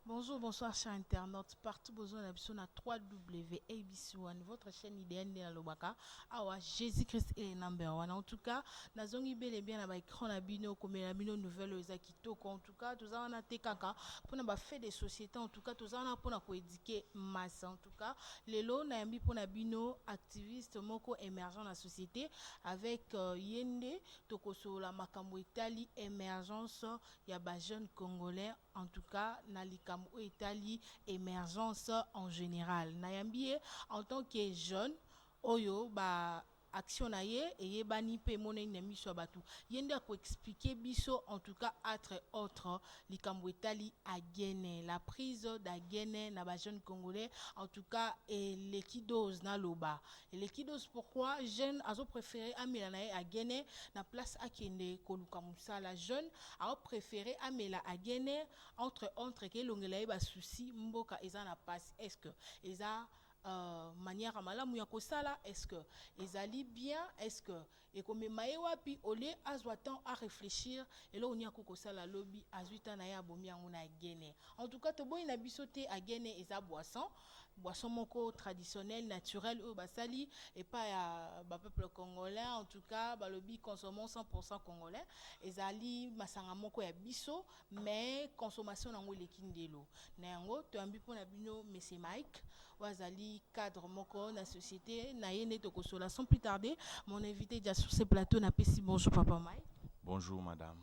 Bonjour, bonsoir chers internautes partout besoin na biso na 3W ABC1 votre chaîne idéale nde nalobaka awa Jésus Christ est le number one en tout cas nazongi bel et bien na ba écran na bino komela bino nouvelle oyo eza kitoko en tout cas toza wana te kaka mpona ba fait de société en tout cas toza wana mpona koéduquer masse en tout cas lelo nayambi mpona bino activiste moko émergent na société avec euh, ye nde tokosolola makambo etali émergence ya ba jeunes congolais en tout cas na likambo oyo etali emergence en général nayambi ye en tant que jeune oyo ba action na ye eyebani mpe emonani na miso ya bato ye nde akoexplike biso en tout cas atre autre likambo etali agene la prise d'agene na bajeune congolais en tout cas eleki dose naloba Eleki dose pourquoi jeune azo préférer amela na ye agene na place akende koluka musala jeune ao préférer amela agene entre entre ke elongela ye ba souci mboka eza na pasi est ce que eza euh, manière malamu ya kosala est ce que ezali bien est ce que ekomema ye wapi au lieu azwa temps a reflechir eloko nini akoki kosala lobi azwi temps na ye abomi yango na gene en tout cas toboyi na biso te agene eza boisson boisson moko traditionnel naturel oyo basali epai ya bapeuple congolais en tout cas balobi consommons 100 congolais ezali masanga moko ya biso mais consommation nango eleki ndelo na yango toyambi mpo na bino monsieur mike oyo azali cadre moko na société na ye nde tokosola sans plus tarder mon invité dia sur ce plateau napesi bonjour papa mike bonjour madame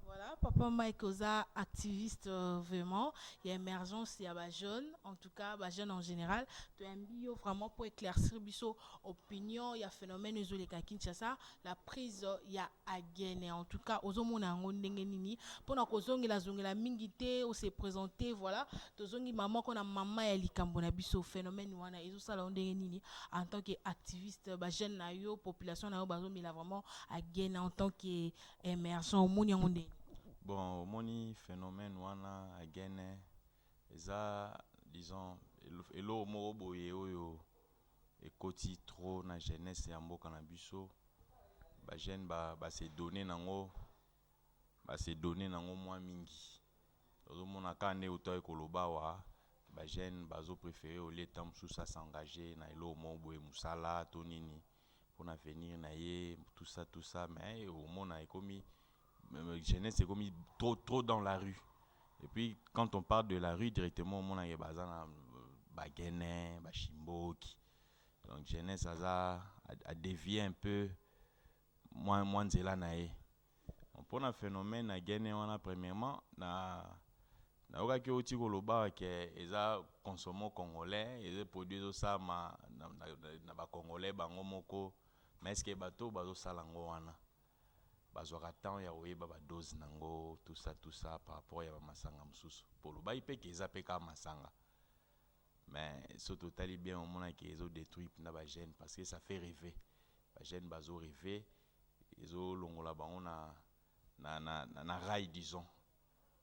Voilà, papa Mike Oza, activiste euh, vraiment, il y a émergence, il y a bah, jeunes, en tout cas, bah, jeunes en général. Tu as un bio vraiment pour éclaircir biso opinion, il y a phénomène Zoleka Kinshasa, na prise ya agene en tout cas ozomona yango ndenge nini mpona kozongela zongela mingi te ose présente voilà tozongi mamako na mama ya likambo na biso phénomène wana ezosala yo ndenge nini en tant que activiste bajeune na yo population na yo bazomela vraiment agene en tant que émergent omoni yango ndenge bon omoni phénomène wana agene eza disons eloko moko boye oyo ekoti trop na jeunesse ya mboka na biso ba jeune ba ba se donner nango ba se donner nango mwa mingi ozomona kaka nde oto aye koloba awa ba jeune bazo prefere olie ntango mosusu asengage na eloko moko boye mosala to nini mpona avenir na ye tusa tusa mais omona ekomi Euh, jeunesse ekomi trop trop dans la rue et puis quand on parle de la rue directement omonaka baza na euh, bagene bashimboki donc jeunesse aza adevie un peu mwa mwa nzela na ye mpo na phénomène ya gene wana premièrement na nayokaki outi koloba ke eza consomo congolais eza produit ezosalama na, na, na, na bacongolais bango moko mais eske bato bazosala yango wana bazwaka temps ya koyeba ba dose nango tout ça tout ça par rapport ya ba masanga mususu po olobaki pe ke eza pe kaka masanga mais soki totali bien omona ke ezo detruire pena ba jeune parce que ça fait rever ba jeune bazo rever ezo longola bango na na na na, na rail disons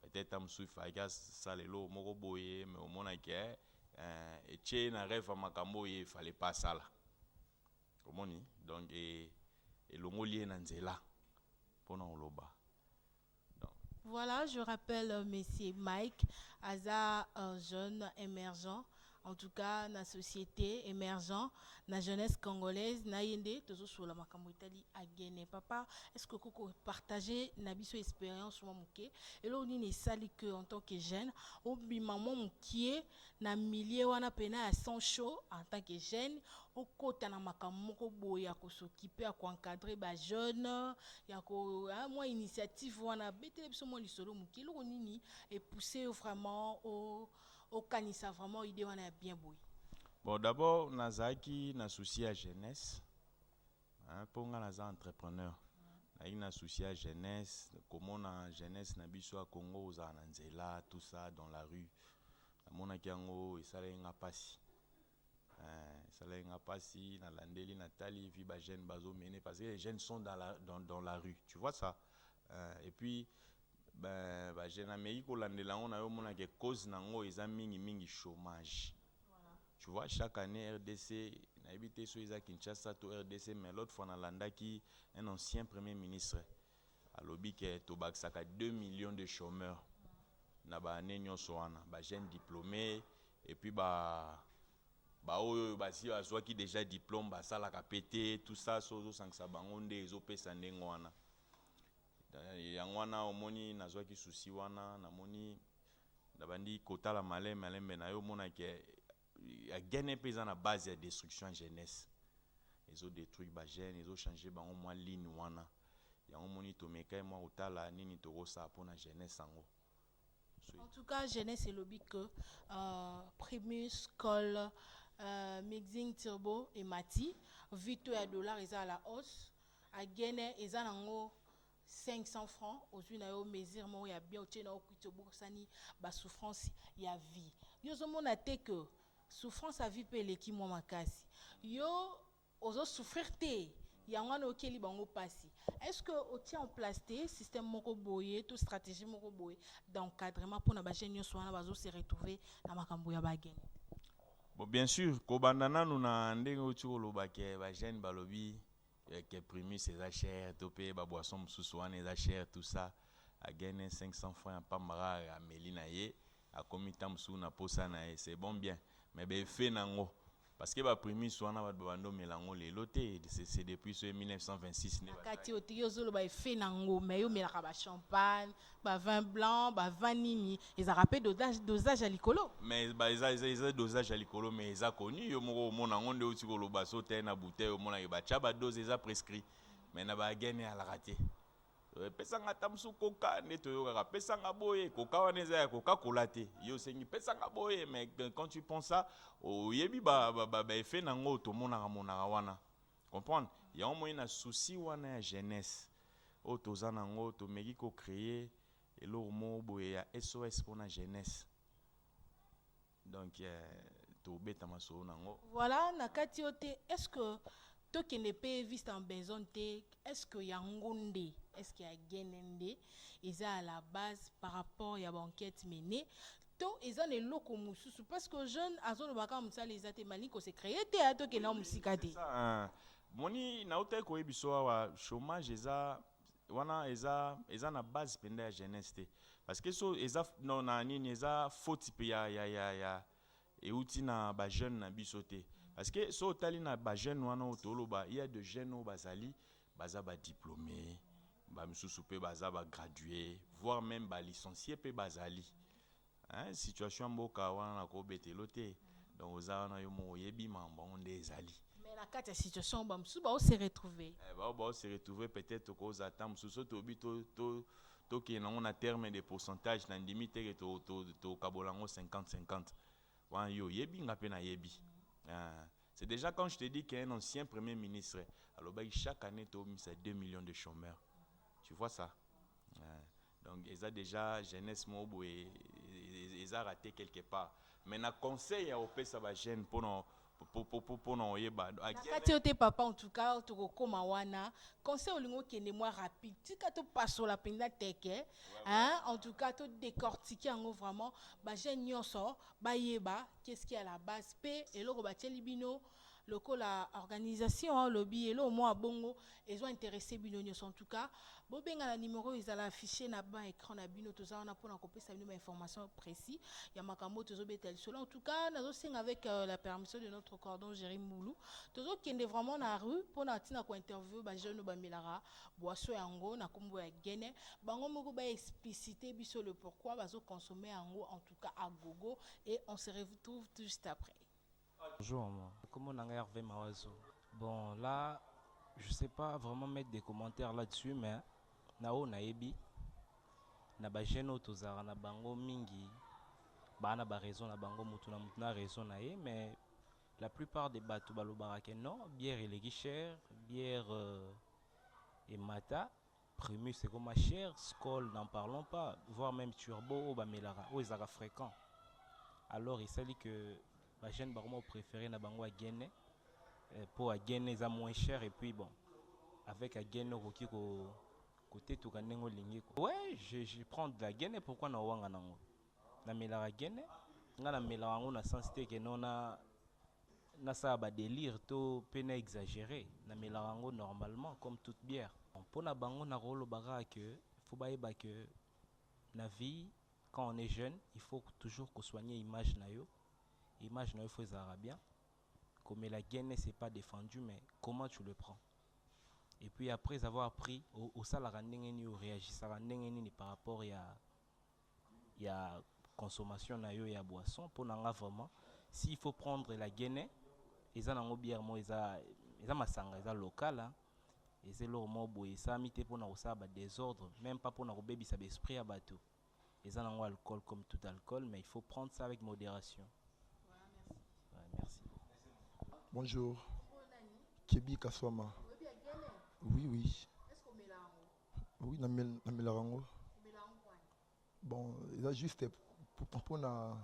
peut-être ta mususu ifalaki asala eloko moko boye mais omona ke eh, etie na rêve ya makambo oyo ye ifale pa asala Omoni? Donc, e, elongoli ye na nzela mpo na koloba. Voilà, je rappelle, euh, Monsieur Mike Aza, un jeune émergent, en tout cas, la société émergent, la jeunesse congolaise, na yende, tozo sur la makambo itali à Guinée. Papa, est-ce que koko partager na biso expérience moi mouké? Et là, on est sali que en tant que jeune, on bi maman mouké, na milieu wana pena ya sang chaud en tant que jeune okota na makambo moko boye ya kosokipe ya koencadre ba jeune ya ko ah, mwa initiative wana betele biso mwa lisolo moke eloko nini epousse yo vraiment okanisa vraiment idée wana ya bien boye bon d'abord nazalaki na souci ya jeunesse Hein po nga naza entrepreneur nazalaki na souci ya jeunesse komona jeunesse na biso ya Congo kozala na nzela tout ça dans la rue namonaki yango esalaki nga pasi eh, esalaki nga pasi nalandeli natali vi ba jeunes bazo mene parce que les jeunes sont dans la, dans, dans la rue tu vois ça eh, et puis ben, ba jeunes ameki kolandela yango na yo omonake cause na yango eza mingi mingi chômage Tu vois, chaque année RDC, nayebi te soki eza Kinshasa to RDC, mais l'autre fois nalandaki un ancien premier ministre alobi ke tobakisaka 2 millions de chômeurs na ba année nyonso wana ba jeunes diplômés et puis ba baoyo oyo basi bazwaki déjà diplôme basalaka mpe te tout ça so ozosangisa bango nde ezopesa ndenge wana yango wana omoni nazwaki susi wana namoni Na bandi kotala malembe malembe nayo mona ke ya gene pe eza na base ya destruction ya jeunesse ezo detruire ba jeune ezo changer bango mwa ligne wana yango moni tomekai mwa kotala nini tokosala pona jeunesse yango En tout cas, jeunesse elobi que euh, Primus, Col, euh, Mixing Turbo et Mati, Vito et Dollar, ils à la hausse. À Guinée, ils ont 500 francs ozui na yo mesure moko ya bien otie na yo kwiti obosani ba souffrance ya vie yo ozomona te que souffrance ya vie mpe eleki mwa makasi yo ozo souffrir te yango wana okeli bango mpasi est ce que otie en place te système moko boye to stratégie moko boye d'encadrement mpo na bajeune nyonso wana bazo se retrouver na makambo ya bagene bon bien sûr kobanda nanu na ndenge oti koloba ke bajeune balobi Eh, que primus eza cher to mpe baboisson mosusu wana eza cher tout ça agene 500 franc ya pambara ameli na ye akomi ntango mosusu na posa na ye c'est bon bien mais baefe na yango parce que baprimus wana bato babanda omela yango lelo te c'est depuis so 1926 nakati yo ozoloba efe na yango mais yo omelaka bachampagne ba vin blanc ba vin nini ezalaka mpe dosage, dosage ya likolo mais ba eza eza eza dosage ya likolo mais eza connu yo moko omona yango nde outi koloba so otai na bouteille omonake batya ba dose eza prescrit mais na ba gene alaka te Euh, pesanga ata mosusu koka nde toyokaka pesanga boye koka wana eza ya koka kola te yo osengi pesanga boye mais quand tu penses ça oyebi baefe ba, ba, ba na yango tomonaka monaka wana Comprendre? Yango omoni na souci wana ya jeunesse oyo toza na yango tomeki ko creer eloko moko boye ya SOS mpo na jeunesse. Donc eh, tobeta masolo na yango. Voilà na kati yo te est ce que tokende mpe viste en besogne te est ce que yango nde est ce que ya gene nde eza à la base par rapport ya baenquête menée to eza na eloko mosusu parce que jeune azoloba kaka mosala eza te malingi kose creye te aya tokenda oui, mosika te ah. moni nautaki koyebi biso awa chômage eza wana eza eza na base mpenza ya jeunesse te parce que so eza no, na nini eza foti mpe ya, ya, ya, ya euti na bajeune na biso te parce que so otali na bajeune wana oyo toloba ya de jeune oyo bazali Baza ba diplomes, ba misusu pe baza ba gradues, voir meme ba licencies pe bazali. Hein, situation ya mboka wana na ko betelo te. Donc oza wana yo moko oyebi mambo yango nde ezali. Mais na kati ya situation ba misusu bao se retrouver. Eh, bao bao se retrouver peut-être ko za temps misusu to bi to to to ke nango na terme de pourcentage na ndimi te ke to to to kabola ngo 50 50. Wana yo oyebi nga pe na yebi. Hein. C'est dejà quand je te dis qu'un ancien premier ministre alobaki chaque année tobimisa 2 millions de chômeurs. Tu vois ça? Ouais. donc eza déjà jeunesse moko boye eza rate quelque part mais na conseil ya kopesa bajeune mpona mpona oyeba nakati yo te papa en tout cas tokokoma wana conseil olingi okende mwa rapide tika topasola mpenza teke en tout cas todécortike yango vraiment bajeune nyonso bayeba Qu'est-ce qui a la base pe eloko batieli bino lokola organisation olobi eloko mwa bongo ezo interesse bino nyonso en tout cas bobenga na numero oyo ezala affiche na ban écran na bino toza wana mpona kopesa bino bainformation précis ya makambo oyo tozobeta lisolo en tout cas nazosenga avec euh, la permission de notre cordon géri mbulu tozokende vraiment na rue mpona ntina kointerview bajeune oyo bamelaka boisson yango na nkombo ya gene bango moko baexplicite biso le pourquoi bazoconsomme yango en tout Luka a gogo et on se retrouve tout juste après. Bonjour maman, kombo na ngai Herve Mawazo. Bon là je sais pas vraiment mettre des commentaires là-dessus mais na oyo nayebi na ba jeunes oyo tozalaka na bango mingi baa na ba raison na bango mutu na mutu na raison na ye mais la plupart des bato balobaka que non bière eleki cher bière euh, emata Primus ekoma cher, skol n'en parlons pas, voir meme turbo oyo bamelaka oyo ezalaka frequent alors esali que ba jeunes bakoma ko preferer na bango Agene eh, po Agene eza moins cher et puis bon avec Agene okoki ko kotetuka ndenge olingi ko ouais je, je prends de la Gene pourquoi na owanga nango Na melaka gene, nga na melaka yango na sens te que non na na sala ba delire to pe na exagere, na melaka yango normalement comme toute bière. Bon pona bango na ko loba kaka que il faut ba yeba que na vie quand on est jeune il faut toujours ko soigner image na yo, image na yo il faut ezalaka bien, ko mela gene c'est pas defendu mais comment tu le prends? Et puis après avoir pris o salaka ndenge nini, o reagissaka ndenge nini par rapport ya ya consommation na yo ya boisson pona nga vraiment si il faut prendre la guene eza na ngo bière moko eza eza masanga eza local hein eza eloko moko boye esalami te pona kosala ba desordre meme pas pona kobebisa ba esprit ya batu eza na ngo alcool comme tout alcool mais il faut prendre ça avec moderation ouais merci beaucoup. Bonjour Keby Kaswama oui oui. Oui, na mel na melaka yango. Bon, eza juste pour na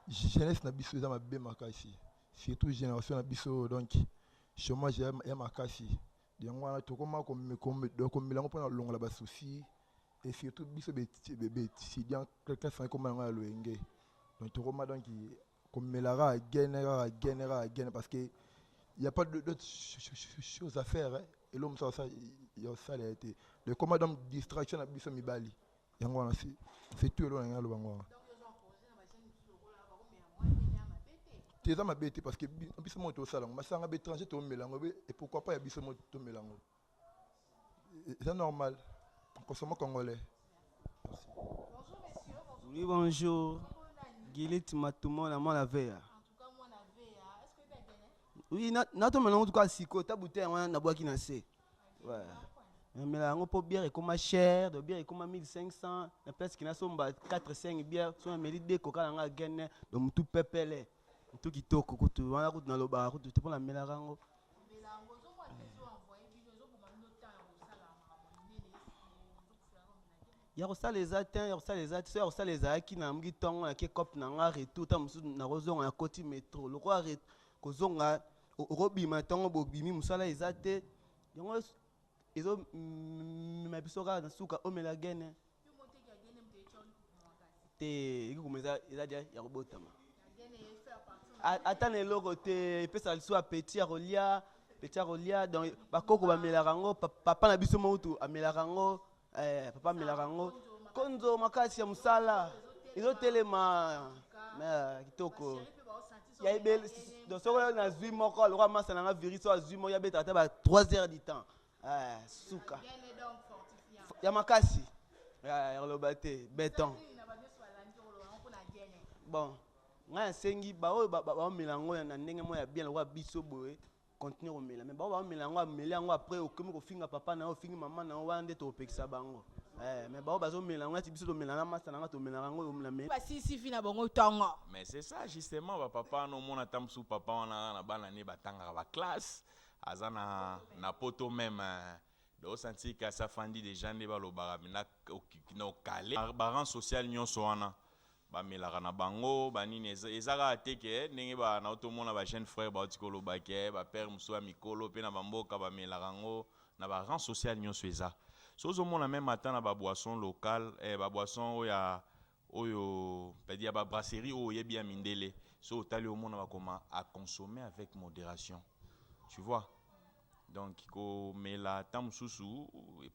jeunesse na biso eza mabe makasi. Surtout génération na biso donc chômage ya makasi. Yango wana tokoma ko ko mela yango pona longola ba soucis et surtout biso be be étudiant classe na koma yango ya loyenge. Donc tokoma donc komela kaka gene kaka gene kaka gene parce que y a pas d'autre chose à faire hein. eloko mosusu asala ya osala ya te le combat donc distraction na biso mibali yango wana se se tu eloko na ngai aloba ngo wana te eza mabe te parce que biso moko tosala yango masanga baétranger tomela yango et pourquoi pas ya biso moko tomela yango C'est normal. Consommons congolais. Oui, bonjour. Gilit Matumo, la moi la veille. Oui, nato maintenant tout cas siko, ta bouteille on na boaki na se. Ouais. Mais là on peut bière et comme cher, de bière et comme 1500, la place qui na somba 4 5 bière, soit mais l'idée coca la gagne, donc tout pepele. Tout qui toko kutu, wana kutu na loba kutu te pona mela rango. ya kosala eza te ya kosala eza te so ya kosala ezalaki na yango ntongo na ke cope na nga retour ntango mosusu nakozonga na koti metro lokola kozonga okobima ntongo bobimi mosala eza te yango ezomema biso kaka na suka omela gene te ekikoma eza eza dia ya kobotama ata na eloko te epesaka lisusu apeti ya kolia peti ya kolia donc bakoko bamelaka yango papa na biso moutu amelaka yango eh, papa amelaka yango konzo makasi ya mosala ezotelema eh, kitoko ya ebele soko nazwi moko lokola masa na nga virus oyo azwi moko yabetaka ata ba 3 heures du temps Eh, suka ya makasi eh, loba te beton bon ngai nasengi baoyo baomela yango na ndenge moko ya bien lokola biso boye continue komela me baoyo baomela yango ameli yango après okomi kofinga papa na yo ofingi mama na yo wana nde tokopekisa bango eh, me baoyo bazomela yango nati biso tomela na masa na ngai tomelaka yango omela basisi fi na bango ntongo mais c'est ça justement bapapa wana omona ata mosusu papa wana na bana ne batangaka baklasse aza na na poto meme do santi kasi afandi deja nde balobaka mpenza na okale baran social nyonso wana bamelaka na bango banini eza kaka te ke ndenge nao tomona bajeune frère bauti koloba ke bapere mosusu ya mikolo mpe na bamboka bamelaka yango na baran social nyonso eza so ozomona meme ata na baboisson locale eh, baboisson oyo ya Oyo c'est-à-dire ya ba brasserie oyo oyebi ya mindele soki otali omona bakoma à consommer avec moderation tu vois donc komela temps mosusu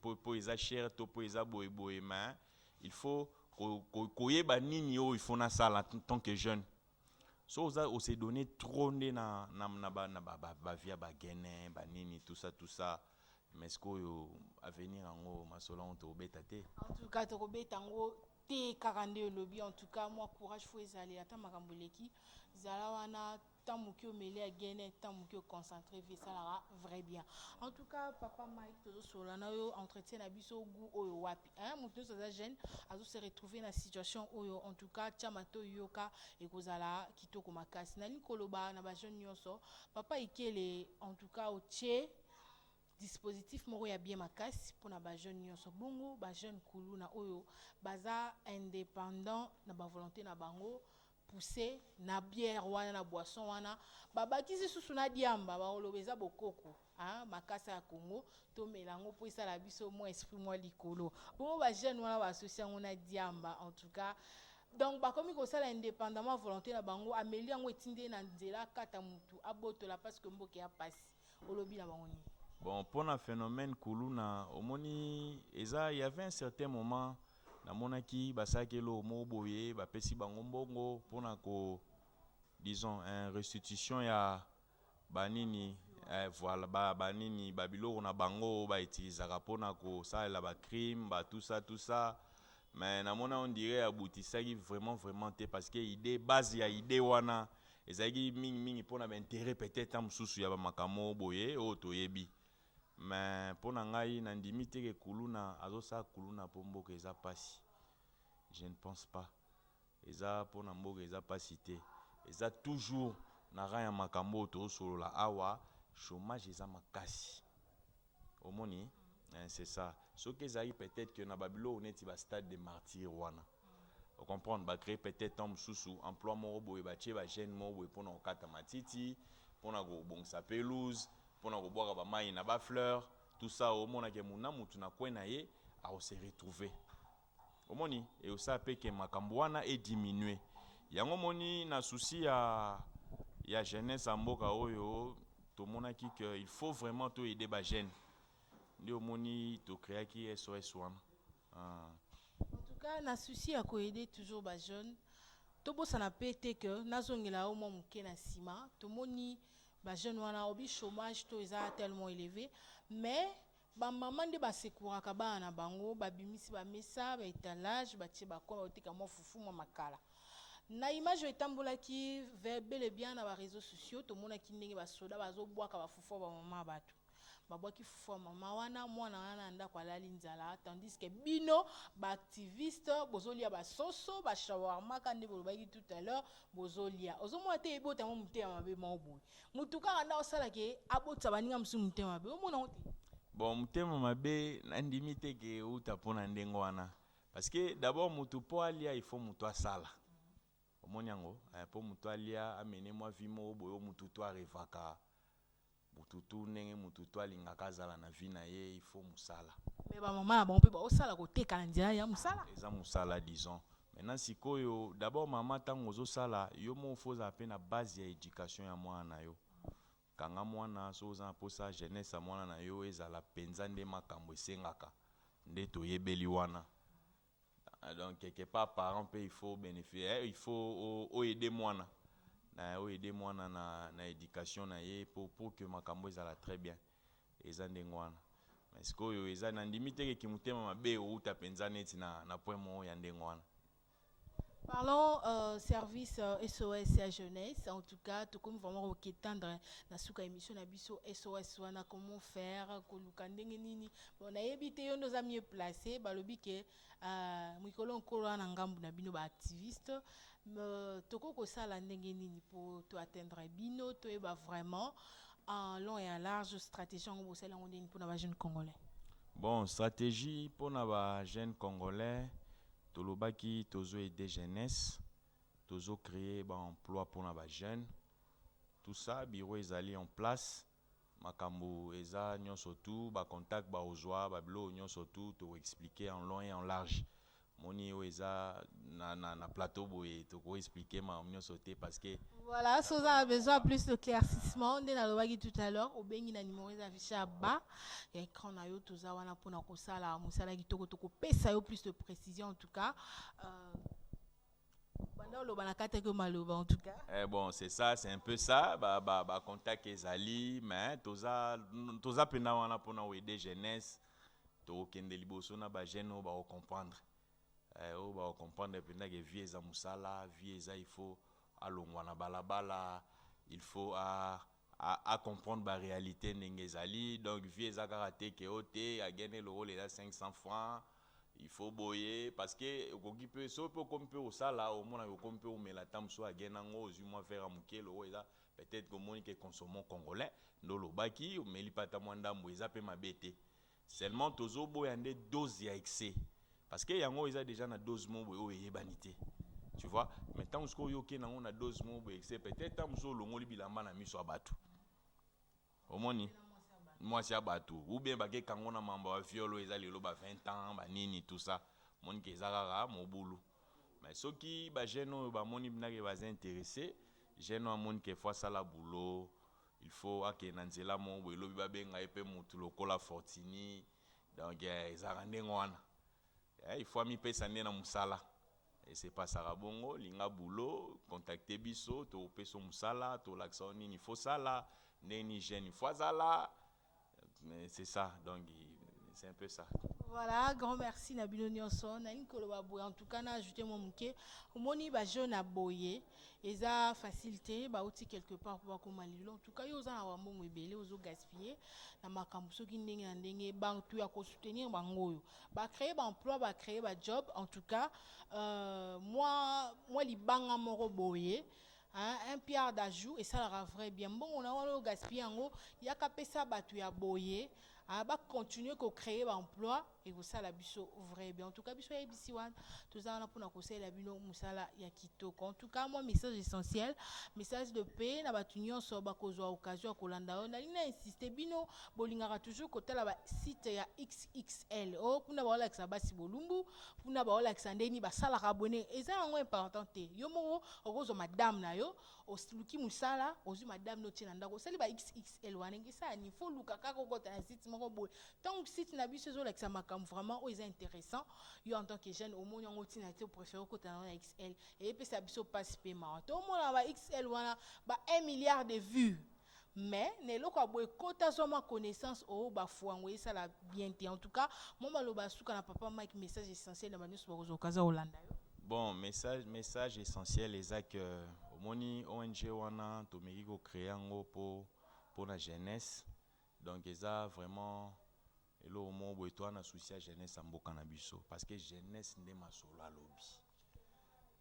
po, po eza cher to po eza boye boye mais il faut ko, ko, koyeba nini oyo il faut nasala en tant que jeune so oza on se donne trop nde na na na ba na ba ba, ba via ba gene ba nini tout ça tout ça mais sikoyo avenir yango masolo yango tokobeta te en tout cas tokobeta yango te kaka nde olobi en tout cas mwa courage fo ezali ata makambo eleki zala wana ntango moke omeli ya gene ntango moke oconcentre vie esalaka vrai bien en tout cas papa mike tozosolola na yo entretien na biso gu oyo wapi hein, moto nyonso aza jeune azo se retrouver na situation oyo en tout cas tia mato yoka ekozala kitoko makasi nalingi koloba na bajeune nyonso papa ikele en tout cas otie dispositif moko ya bien makasi mpo na bajeune nyonso bongo bajeune kuluna oyo baza indépendant na bavolonté na bango pousse na bière wana na boisson wana babakisi susu na diamba bakoloba eza bokoko hein, makasa ya Congo tomela yango mpo esala biso mwa esprit mwa likolo bongo ba jeune wana baasosi yango na diamba en tout cas donc bakomi kosala indépendamment volonté na bango ameli yango etindi ye na nzela akata motu abotola parce que mboka ya mpasi Olobi na bango nini? Bon, mpo na phenomène kuluna, omoni eza il y avait un certain moment namonaki basalaki eloko moko boye, bapesi bango mbongo mpo na ko disons un restitution ya banini eh, voilà ba banini ba biloko na bango ba utilisaka mpo na kosalela ba crime ba tout ça tout ça mais namona on dirait abutisaki vraiment vraiment te parce que idée base ya idée wana ezalaki mingi mingi mpo na bainteret peut-être ntango mosusu ya bamakambo boye oyo toyebi me mpo na ngai nandimi te ke kuluna azosala kuluna mpo mboka eza mpasi je ne pense pas eza mpo na mboka eza mpasi te eza toujours na rang ya makambo oyo tozosolola awa chômage eza makasi Omoni eh, c'est ça. Soki ezalaki peut-être que na ba biloko neti ba stade de martyrs wana o comprendre ba créer peut-être temps mosusu emploi moko boye batie ba jeune moko boye mpona kokata matiti mpona kobongisa pelouse mpona kobwaka bamai na ba fleur tout ça omonake muna mutu na coin na ye akose retrouver Omoni et osa pe que makambo wana e diminuer yango omoni na souci ya ya jeunesse ya mboka oyo tomonaki que il faut vraiment to aider ba jeunes nde omoni to creaki SOS wana uh. En tout cas, na souci ya koyede toujours ba jeunes, tobosana pe te que nazongela yo mwa moke na nsima, tomoni ba jeunes wana obi chômage to eza tellement élevé, mais Ba maman nde ba secouraka bana na bango, ba bimisi ba mesa, ba etalage, ba tie ba coin, ba teka mwa fufu, mwa makala. Na image oyo etambolaki bel et bien na ba reseaux sociaux, tomonaki ndenge ba soda bazo bwaka ba fufu ya ba maman ya batu. Ba bwaki fufu ya maman wana, mwana wana na ndako alali nzala, tandis que bino ba activistes bozo lia ba soso, ba shawarma ka nde bolobaki tout à l'heure, bozo lia. Ozo mona te ebota mwa muteya mabe moko boye. mutu kaka nde akosala ke abotisa baninga mosusu motema mabe omona yango te bon motema mabe nandimi te ke euta mpo na ndenge wana parce que d'abord mutu mpo alia il faut mutu asala omoni yango eh, mpo mutu alia amene mwa vi moko boye o mutu to arevaka mutu tu ndenge mutu to alingaka azala na vi na ye il faut mosala me bamama na bango mpe baosala koteka na nzela ya mosala eza mosala disons Maintenant sikoyo d'abord maman tango ozo sala yo moko faut ozala pe na base ya education ya mwana na yo kanga mwana soki oza na posa jeunesse ya mwana na yo ezala penza nde makambo esengaka nde toyebeli wana ah, donc quelque part parent pe il faut benefice eh, il faut o, o aider mwana na o aider mwana na, na education na ye pour, pour que makambo ezala très bien Eza ndenge wana. Mais sikoyo eza na ndimi te ke ki mutema mabe ewuta penza neti na na point moko ya ndenge wana. Parlons euh, service euh, SOS ya jeunesse. En tout cas, tokomi vraiment ko ketandre na suka émission na biso SOS wana comment faire koluka ndenge nini. Bon, nayebi te yo ndoza mieux placé balobi ke Uh, mikolo nkolo wana ngambo na bino baactiviste uh, tokoki kosala ndenge nini mpo toatteindre bino toyeba vraiment en long et en large stratégie yango bosali yango ndeni mpo na bajeune congolais bon stratégie mpo na bajeune congolais tolobaki tozo aide jeunesse tozo créer baemploi mpo na bajeune tout ça bureau ezali en place Makambu eza nionso tout ba contact ba ozua ba biloko nionso tout toko explique en long et en large omoni oyo eza na na plateau boye toko explique makambo nionso te parce que Voilà, soki oza na besoin ya plus d'éclaircissement nde nalobaki tout à l'heure obengi na numero eza affiche ya bas ya écran na yo toza wana mpona kosala mosala kitoko tokopesa yo plus de précision en tout cas euh, en tout cas. Eh bon, c'est ça, c'est un peu ça. Bah, bah, bah contact ezali, mais toza toza pena wana pona aider jeunesse. To kende liboso na ba jeune ba comprendre. Eh o ba comprendre pena que vie eza musala, vie eza il faut alongwa na balabala, il faut a a, a comprendre ba réalité ndenge ezali donc vie eza kaka te ke o te agende lokola eza 500 francs il faut boye parce que okoki mpe soki mpe okomi mpe osala omona okomi mpe omela ntango mosusu agenda yango ozwi mwa vere ya moke loko eza peut-être komoni ke consommons congolais nde olobaki omeli mpe ata mwa ndambo eza mpe mabe te Seulement tozo boya nde dose ya excès parce que yango eza dejà na dose moko boye oyo eyebani te tu vois mais ntango sikoyo oyo okei nango na dose moko boye excès peut-être ntango mosusu olongoli bilamba na miso ya bato omoni mwasi ya bato ou bien bakeka yango na mambo ya viol oyo eza lelo ba 20 ans banini tout ça omoni ke eza kaka mobulu mais soki bajeune oyo bamoni nake baza interesse jeune oyo amoni ke fo asala boulot Il faut akende na nzela moko boye lobi ba benga ye pe mutu lokola fortini donc ezalaka ndenge wana il faut ami pesa nde na musala e se pasaka bongo linga boulot contacte biso toko pesa yo musala tolakisa yo nini il faut sala ndenge nini jeune il faut azala Mais c'est ça, donc c'est un peu ça. Voilà, grand merci na bino nyonso. Na inkolo ba boye en tout cas na ajouter mon muke. Omoni ba jeune na boye eza facilité ba outi quelque part pour bakoma lilo. En tout cas yo za na wa mbongo ebele ozo gaspiller na makambo soki ndenge na ndenge ba tu ya ko soutenir bango yo. Ba créer ba emploi, ba créer ba job. En tout cas, euh, moi moi libanga moko boye. Hein, un pierre d'ajout esalaka vrai bien mbongo na wana oyo gaspille yango yaka pesa bato ya boye ah, bacontinue kocreye baemploi ekosala biso vrai bien en tout cas biso yayebisi wana toza wana mpona kosalela bino mosala ya kitoko en tout cas mwa message essentiel message de paix na bato nyonso bakozwa occasion ya kolanda oyo nalingi na insiste bino bolingaka toujours kotala basite ya xxl o oh, kuna baolakisa basi bolumbu kuna baolakisa ndeni basalaka bone eza yango important te yo moko okozwa madame na yo oluki mosala ozwi madame no otie na ndako osali ba xxl wana ngisani fo oluka kaka okota na site moko boye ntango site na biso ezolakisa makambo vraiment oyo eza intéressant yo en tant que jeune omoni yango ntina te opréféré okota nango na xl eyepesa biso mpasi mpe mawa tomona ba xl wana ba 1 milliard de vues mais na eloko ya boye kota zwa mwa connaissance o bafua yango esala bien te en tout cas mwa maloba ya suka na papa mike message essentiel na banyonso bakozwa okaza kolanda yo bon message, message essentiel eza ke omoni ong wana tomeki kocreye yango mpo mpo na jeunesse donc eza vraiment Eloko moko boye toa na souci ya jeunesse ya mboka na biso parce que jeunesse nde masolo ya lobi.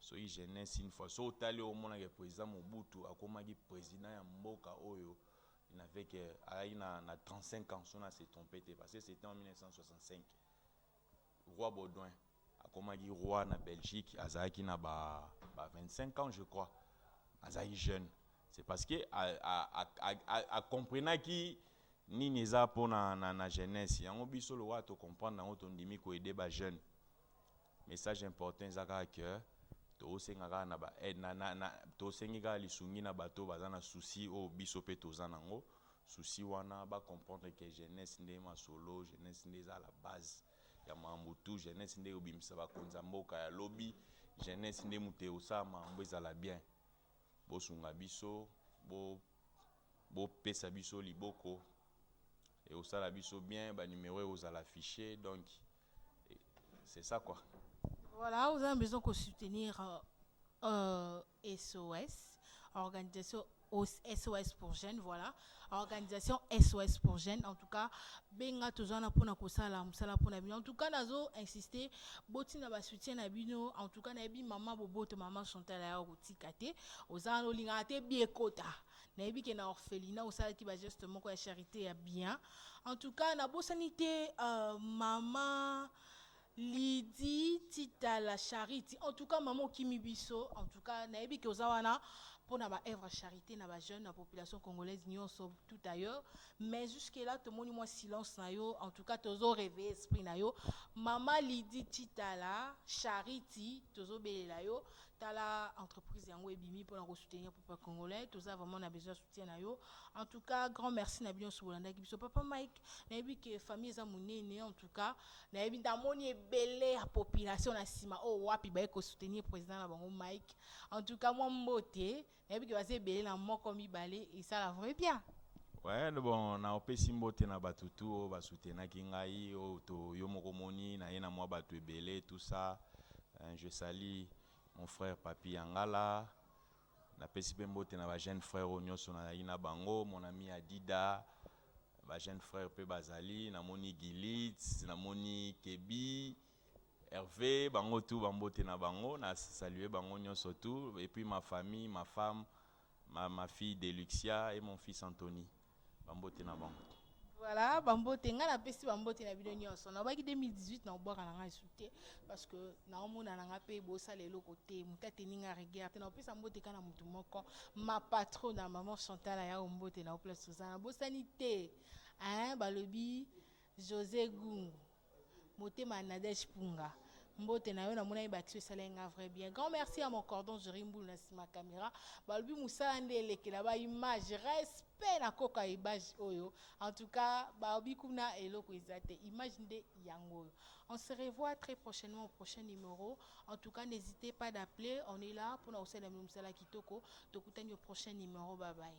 Soki jeunesse une fois so otali omonaka ke president Mobutu akomaki president ya mboka oyo n'avait que ayaki na, na 35 ans so na se trompe te parce que c'était en 1965 Roi Baudouin akomaki roi na Belgique, azalaki na ba, ba 25 ans je crois, azalaki jeune. C'est parce que a, a, a, a, a, a comprenaki nini eza mpo na, na, na jeunesse yango biso lokola tocomprendre yango tondimi koede ba jeune message important eza kaka ke tosenga kaka na, ba, eh, na, na, na tosengi kaka lisungi na bato baza na souci oyo biso mpe toza nango souci wana ba comprendre que jeunesse nde masolo jeunesse nde eza la base ya mambu tout jeunesse nde ekobimisa bakonzi ya mboka ya lobi jeunesse nde moto ekosala mambu ezala bien bosunga biso bo bopesa biso liboko ekosala biso bien ba numero ekozala affiche donc C'est ça quoi. Voilà, vous avez besoin de soutenir euh, euh SOS, organisation SOS pour jeunes, voilà. Organisation SOS pour jeunes. En tout cas, benga tozana pona kosala musala pona bino. En tout cas, nazo insister boti na ba soutien na bino. En tout cas, na bi maman boboto maman Chantal ya kotika te. Ozana olinga te biekota. nayebi ke na orphelina osalaki bageste moko ya charité ya bien en tout cas nabosani te uh, mama lidi titala charity en tout cas mama okimi biso en tout cas nayebi ke oza wana mpo na baœuvre ya charité na bajeune na population congolaise nyonso tout ailleurs mais jusque là tomoni mwa silence na yo en tout cas tozo réveille esprit na yo mama lidi titala charity tozobelela yo tala entreprise yango ebimi mpona kosoutenir peuple congolais toza vraiment na besoin ya soutien na yo en tout cas grand merci na bino nyonso bolandaki biso papa mike nayebi ke famille eza monene en tout cas nayebi namoni ebele ya population na nsima oyo oh, wapi baye kosoutenir président na bango mike en tout cas mwa mbote nayebi ke baza ebele na moko mibale esala vrai bien Ouais, bon, na opesi mbote na bato tu oyo basutenaki ngai oyo oh, to yo moko moni na ye na mwa bato ebele tout ça euh, je sali mon frère papi yangala napesi mpe mbote na bajeune frère oyo nyonso nazalaki na bango mon ami adida bajeune frère mpe bazali namoni gilit namoni kebi Herve bango tout ba mbote na bango na saluer bango nyonso tout et puis ma famille ma femme ma, ma fille Deluxia et mon fils Anthony ba mbote na bango voilà bambote ngai napesi bambote na bino nyonso nabaki 2018 na kobwaka na ngai su te parce que naomona na ngai mpe bosala eloko te moto ateni ngai regard te nakopesa mbote kaka na motu moko ma patro na maman chantal ayao mbote na oplace oza nabosani te hein balobi josé gungu motema ya nadège punga mbote na yo namonaki baction esalaki nga vrai bien grand merci ya mon cordon jeri mbulu na nsima caméra balobi mosala nde elekela ba image respect na koko ya image oyo en tout cas balobi kuna eloko eza te image nde yango oyo on se revoit très prochainement au prochain numéro en tout cas n'hésitez pas d'appeler on est là mpona kosalela mosala kitoko tokutani au prochain numéro bye bye